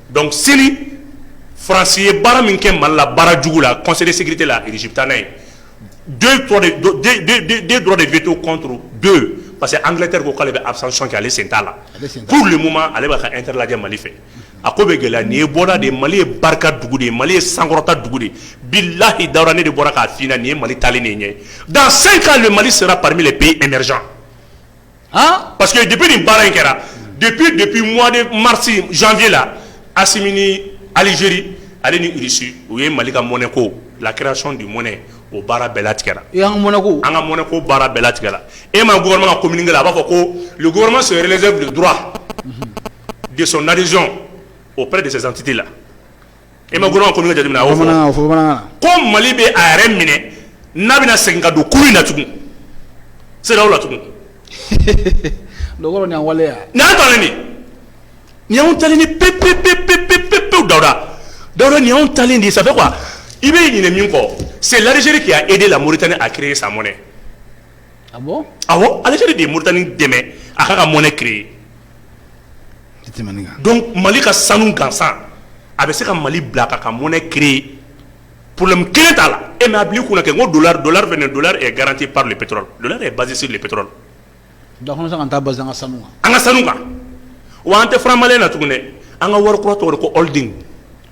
donc sini faransi ye baara min kɛ mali la baara jugu la conseil de sécurité la taa n'a ye deux droits de veto contre deux parce que angleterre ko k'ale bɛ abstention kɛ ale sen t'a la pour le moment ale b'a ka intérêt lajɛ mali fɛ a ko bɛ gɛlɛya nin ye bɔda de ye mali ye barika dugu de ye mali ye sankɔrɔta dugu de billahi daouda ne de bɔra k'a f'i ɲɛna nin ye mali taalen ye ɲɛ dans cinq ans le mali sera parmi les pays émergents Pa que de nin baara in kɛra de de mɔni marisi fi la a alizeri ale nisi u ye mali ka mɔnɛ ko la kiraracɔn de mɔnɛ o baara bɛɛla tigɛ an mɔnɛko an ka mɔnɛ ko baara bɛɛla tigɛ e ma gma ko mini kɛ a b'a fɔ ko gma sɛbɛnbɛlɛzɛura de nazo o de tɛti la E ma gɔrɔn kɔmi jate ko mali bɛ a yɛrɛ minɛ n'a bɛna segin ka don kuru in na tugun se la tugun ɲa tali ni pep pep pep pep pep pe dada dɔw nin ta di sa kuwa i bɛ ɲini min kɔ se larisiri k' e de la mori tan ni a ki sa mɔnɛ a aliseri de ye mori tanani dɛmɛ a ka ka mɔnɛ ke ye mali ka sanu gansan a bɛ se ka mali bila ka ka mɔnɛ ki porolenme kelen t'a la e mɛ a bi kun kɛ ko don garanti pa pe basisi pe an ka sanu kan wa an tɛma na tuguni an ka wari kura tɔgɔ ko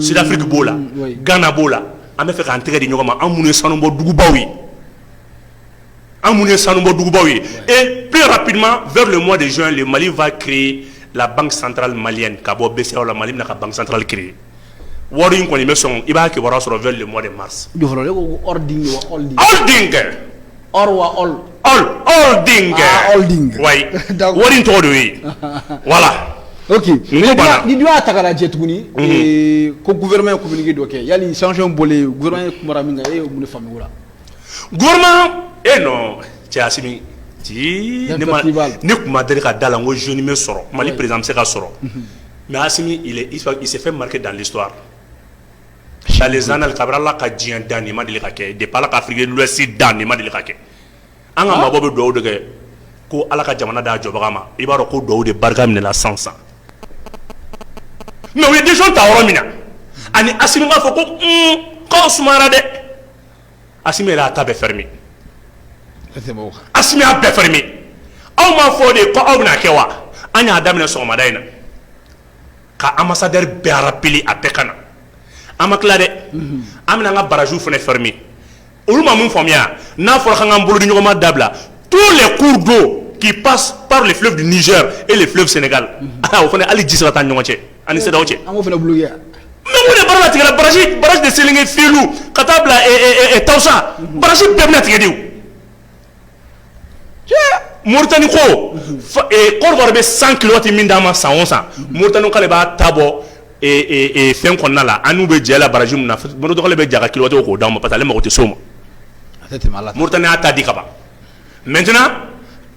sirafiri b'o la gana b'o la an bɛ fɛ k'an tɛgɛ di ɲɔgɔn ma anw ye sanubɔbaw ye anw ye sanubɔbaw ye e pma mɔ de ye mali fa ki la santara mali ka bɔ la mali na ka bansantali ki wari in kɔni bɛ sɔn i b'a kibaruya sɔrɔ mɔ de ma Or wa ɔl ɔl ɔlding aa ɔlding oui d'accord wari in tɔgɔ de y'o ye voilà ok n ko banna ni dun y'a ta ka lajɛ tuguni ee ko gouvernement ye communiqué dɔ kɛ yali sanction bɔlen gouvernement ye kumara min kan e ye mun de faamu o la gouvernement ee non cɛ Asimi tii ne ma ne tun ma deli ka d'a la n ko jeune bɛ sɔrɔ Mali président bɛ se ka sɔrɔ mais Asimi il est il s'est fait marquer dans l'histoire dans les annales kabini ala ka diɲɛ dan nin ma deli ka kɛ depuis ala ka afrique de l'ouest dan nin ma deli ka kɛ an ka mabɔ bɛ dugawu de kɛ ko ala ka jamana d'a jɔbaga ma i b'a dɔn ko dugawu de barika minɛla san san mais u ye décision ta yɔrɔ min na ani asimi b'a fɔ ko k'aw sumayara dɛ asimi y'a ta bɛɛ fermé asimi y'a bɛɛ fermé aw m'a fɔ de ko aw bɛna kɛ wa an y'a daminɛ sɔgɔmada in na ka an masa bɛɛ arapeli a bɛɛ ka na an ma tila dɛ an bɛna an ka barajw fana fari olu ma min faamuya n'a fɔra ka anan bolo ni ɲɔgɔnma dabila to de k'u don k'i pa de fi bɛ niz e de fi sen o fana hali ji sera taa ɲɔgɔn cɛ ani se cɛ tigɛ basi basi de seli fi ka taa bila tɔwsa basi bɛɛ bɛna tigɛ de Mori ko koloba bɛ san kiloti min d'a ma san san mori k'ale b'a ta bɔ fɛn kɔnɔna la ani bɛ jɛ la baraji min dɔgɔ bɛ jaka kilo k'o d'a ma pa mɔgɔ tɛ so ma mori y'a ta di ka ban mɛt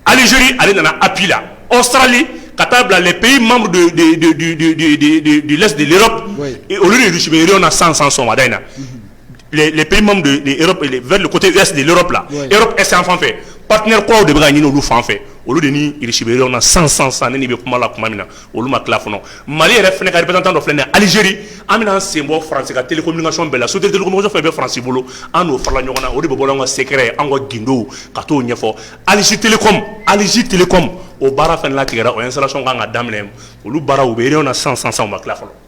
aliz ale nana a bi la ɔ sarali ka taa bila peyi mamadu olu de dususi bɛ na san san sɔnda in na sanfɛ paɛkaw de bɛ ɲini olu fan olu desibi na san san san bɛ kuma la tuma min na olu ma tila kɔnɔ mali yɛrɛ fana ka tan dɔ filɛ alizeri an bɛna sen bɔ fase ka teli min sɔn bɛɛ la so tɛelikomuso fɛ bɛ farasi bolo an'o fara ɲɔgɔn na o de bɛ bɔ an ka sɛ ye an ka gdo ka t'o ɲɛfɔ aliz tele aliz tele o baara fana tigɛ o ye sara sɔn ka kan ka daminɛ olu baara u bɛ na san san san ma tila fɔlɔ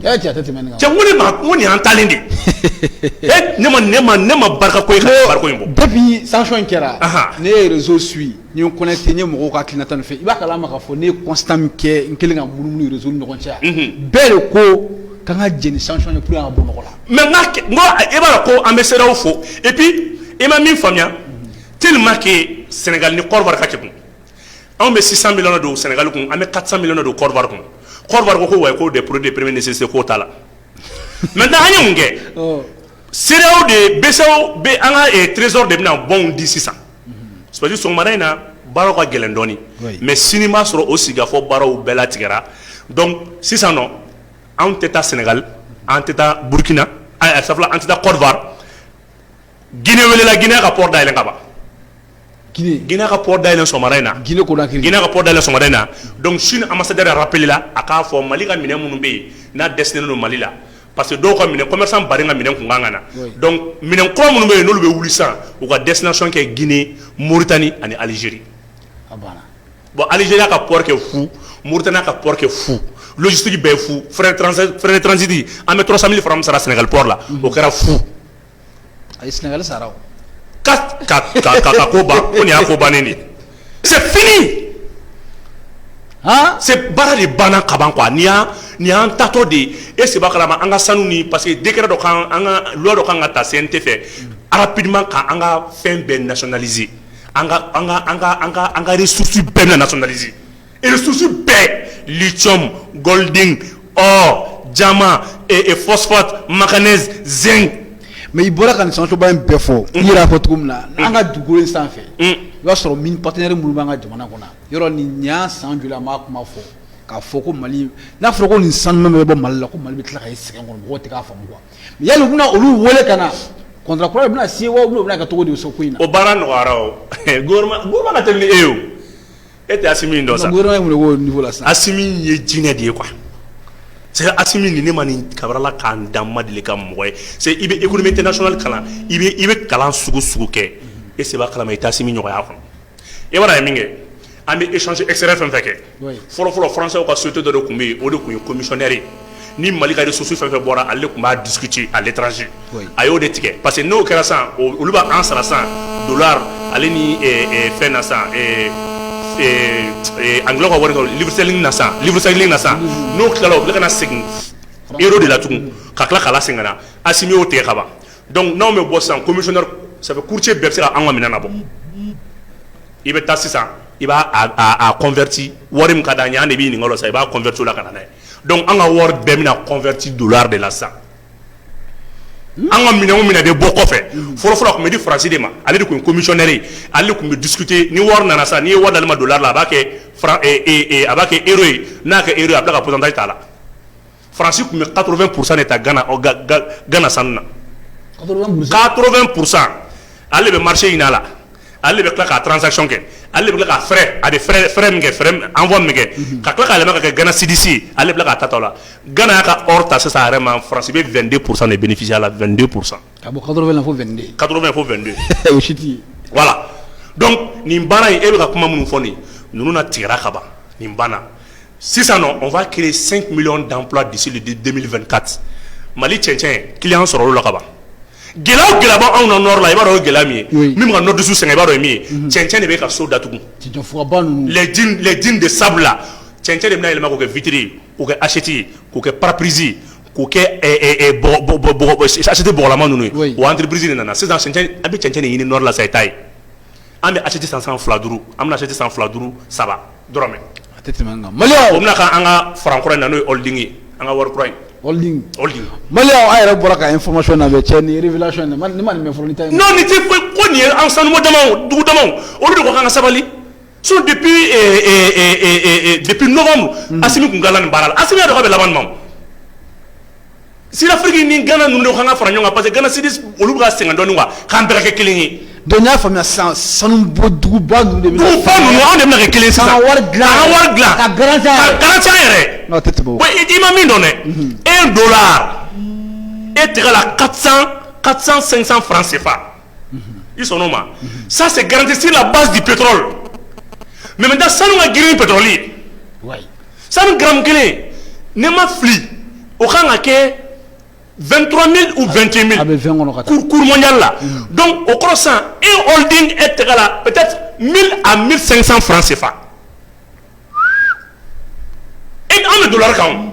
cɛ ko nin an ta de ne ma ne ma ne ma ba ko in bɔ sansɔn in kɛra ne yɛrɛzo su ye kɔn tɛ ye mɔgɔ ka ki tan fɛ i b'a ma fɔ ne ye kɔnsan min kɛ n kelen ka muru z ɲɔgɔn cɛ bɛɛ de ko ka ka jeni san bɔ mɔgɔ la mɛ e b'a ko an bɛ se o fo epi e ma min faamuya te ma ke sɛnɛga ni kɔrɔ ka cɛ Anw bɛ sisan min don sɛnɛgali kun an bɛ kasa min don kɔɔriwa kun kɔɔriwa ko wa k'o de pur de perem se k'o ta la mɛ da an ye mun kɛ se de bɛ an ka terireso de bɛna bɔ di sisan sosi sɔgɔmara in na baara ka gɛlɛndɔɔni mɛ sini b'a sɔrɔ o sigifɔ baaraw bɛɛ la tigɛra sisan anw tɛ taa sɛnɛgali an tɛ taa burukina an tɛ taa kɔɔriwa Guinée welela Guinée ka port dayɛlɛ ka ban Guinée Guinée ka port dayɛlɛ sɔgɔmada in na Guinée Conakry Guinée ka port dayɛlɛ sɔgɔmada in na donc Chine ambassadeur yɛrɛ rappelé la a k'a fɔ Mali ka minɛn minnu bɛ ye n'a destiné don Mali la parce que dɔw ka minɛn commerçant baden ka minɛn tun ka kan ka na oui donc minɛn kura minnu bɛ ye n'olu bɛ wuli sisan u ka destination kɛ Guinée Mauritanie ani Algérie a banna bon Algérie y'a ka port kɛ fu Mauritanie y'a ka port kɛ fu logistique bɛɛ ye fu frais de transai frais de transit an bɛ 300.000 francs min sara Sénégal port la unhun o kɛra fu A ye sina sara ko ko y'a ko ban de bara de banna kaban y'an tatɔ de ye e se kalama an ka sanu ni parce que degekɛ dɔ dɔ ka kan ka taa sen tɛ fɛ arapma ka an ka fɛn bɛɛ naonalize an kari susi bɛɛ na natɔnalize Ressources bɛɛ lithium golding or diamant phosphate manganèse zinc mais i bɔra ka sansoba in bɛɛ fɔ n y'a fɔ cogo min na an ka dugu in sanfɛ i y'a sɔrɔ mine partenaire minnu b'an ka jamana kɔnɔ yɔrɔ nin ɲ san joli b'a kuma fɔ k'a fɔ ko mali n'a fɔra ko nin san bɛ bɔ mali la ko mali bɛ tila ka sɛgɛn kɔnɔ tigɛ k'a fa ya bɛna olu weele ka na contrat kura bɛna se bɛna ka cogo de so ko in o baara nɔgɔyara gouvernement tɛ e ye E tɛ Asimi in dɔn sa, gouvernement in tun bɛ k'o niveau la sisan, Asimi in ye jinɛ de ye quoi, c'est à dire Asimi nin ne ma nin kabir'Ala ka n da n ma deli ka mɔgɔ ye c'est à dire i bɛ économie internationale kalan i bɛ i bɛ kalan sugu sugu kɛ e se b'a kalan mais i tɛ Asimi ɲɔgɔn y'a kɔnɔ i b'a dɔn a ye min kɛ an bɛ échange extérieur fɛn o fɛn kɛ, oui, fɔlɔ fɔlɔ français ka société dɔ de tun bɛ yen o de tun ye commissionnaire ye ni mali ka ressource fɛn o fɛn bɔra ale tun b'a discuter à l'étranger a y'o de tigɛ parce que n'o kɛra sa olu b' an sara sa en dollar ale ni fɛn na sa anglais ka wari livre sterling na sa n'o tilala u ka na segin euro de la tugun ka tila k'a lasegin ka na Asimi y'o tigɛ ka ban dɔnku n'anw bɛ bɔ sans commissionnaire sabu courtier bɛɛ bɛ se an ka minɛn na bon i bɛ taa sisan i b'a convertir wari min ka d'an ye de b'i nin sa i b'a convertir o la ka na dɛ Dɔnku an ka wari bɛɛ bɛna convertir dollar de la sa an ka minɛn min de bɔ kɔfɛ fɔlɔfɔlɔ tun bɛ di Faransi de ma ale de tun commissionnaire ale tun bɛ discuter ni wari nana sa n'i ye wari d'ale ma dollar la a b'a kɛ a b'a kɛ ero ye n'a kɛ ero a bɛ tila k'a ta t'a la Faransi tun bɛ quatre-vingts pour cent de ta Gana Gana sanu na quatre-vingts pour cent ale de bɛ marché ɲin'a la Ale bɛ tila ka transaction kɛ, ale de bɛ tila ka frais a bɛ frais min kɛ envoi min bɛ kɛ, unhun, ka tila k'a yɛlɛma ka kɛ Gana cedis ye, ale bɛ tila k'a ta o la, Gana y'a ka or ta sisan a yɛrɛ ma France bɛ 22 pour cent de bénéficier a la 22 pour cent ka bɔ 80 na fɔ 22 80 na fɔ 22 o si tɛ yen, voilà, donc nin baara in e bɛ ka kuma minnu fɔ nin ye ninnu na tigɛra ka ban nin banna sisan non on va creer 5 millions d'emplois d'ici le 2024 Mali cɛncɛn client sɔrɔla o la ka ban Gɛlɛya o gɛlɛya b'anw na nord la i b'a dɔn gɛlɛya min ye min ka nord dusu sɛgɛn i b'a dɔn min ye cɛncɛn de bɛ ka so datugu les dunes de sable là cɛncɛn de bɛna yɛlɛma k'u kɛ vitre k'u kɛ assiette k'u kɛ pare-brise k'u kɛ assiette bɔgɔlama ninnu ye o entreprise de nana sisan a bɛ cɛncɛn ɲini nord la sa i ta ye An bɛ assiette san sisan 2, 5, an bɛna assiette san 2, 5, 3 dɔrɔmɛ, a tɛ tɛmɛ nin kan, maliyɛnw, o bɛna kɛ an ka franc kura in na n'o ye holding ye, an ka wari kura in, holding, holding, maliyɛnw aw yɛrɛ bɔra ka information labɛn cɛ nin révélation in, ne ma nin mɛn fɔlɔ, non nin tɛ foyi ko nin ye an sanubɔ damaw ye, dugu damaw, olu de ko k'an ka sabali sinon depuis ɛɛ ɛɛ depuis novembre Asimi tun tilala nin baara la, Asimi y'a dɔn k'a bɛ laban nin ma o, Sud Afrique ni gana ninnu de ka kan ka fara ɲɔgɔn kan parce que gana sidi olu ka sɛgɛn dɔɔni wa k'an bɛɛ kɛ kelen ye donc i y'a faamuya san sanu bɔ duguba ninnu de bɛ fa ninnu an de bɛna kɛ kelen sisan wari dilan ka wari dilan ka garanti garanti yɛrɛ n'o tɛ tɛmɛ wa i ma min dɔn dɛ un dollar est égal à 400 500 francs CFA i sɔnna o ma ça c'est garanti sur la base du pétrole mais maintenant sanu ka girin ni pétrole ye, wayi, sanu gramme kelen ni ne ma fili o ka kan ka kɛ 23000 ou 21000 a bɛ 20 kɔnɔ ka taa, cours mondial la donc o kɔrɔ sisan un holding est égal à peut être 1000 à 1500 francs CFA et an bɛ dollars kan o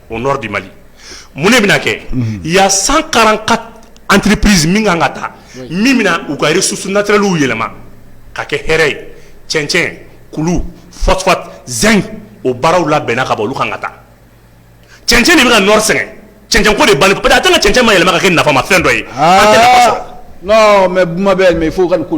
au nord du mali mun de bɛna kɛ il y a 144 entreprises min ka kan ka taa min bɛna u ka ressources naturelles yɛlɛma ka kɛ hɛrɛ ye cɛncɛn kulu phosphate zinc o baaraw labɛnna ka ban olu ka kan ka taa cɛncɛn de bɛ ka nord sɛgɛn cɛncɛn ko de bali peut être cɛncɛn ma yɛlɛma ka kɛ nafama fɛn dɔ ye mais bɛ fo ka ni ko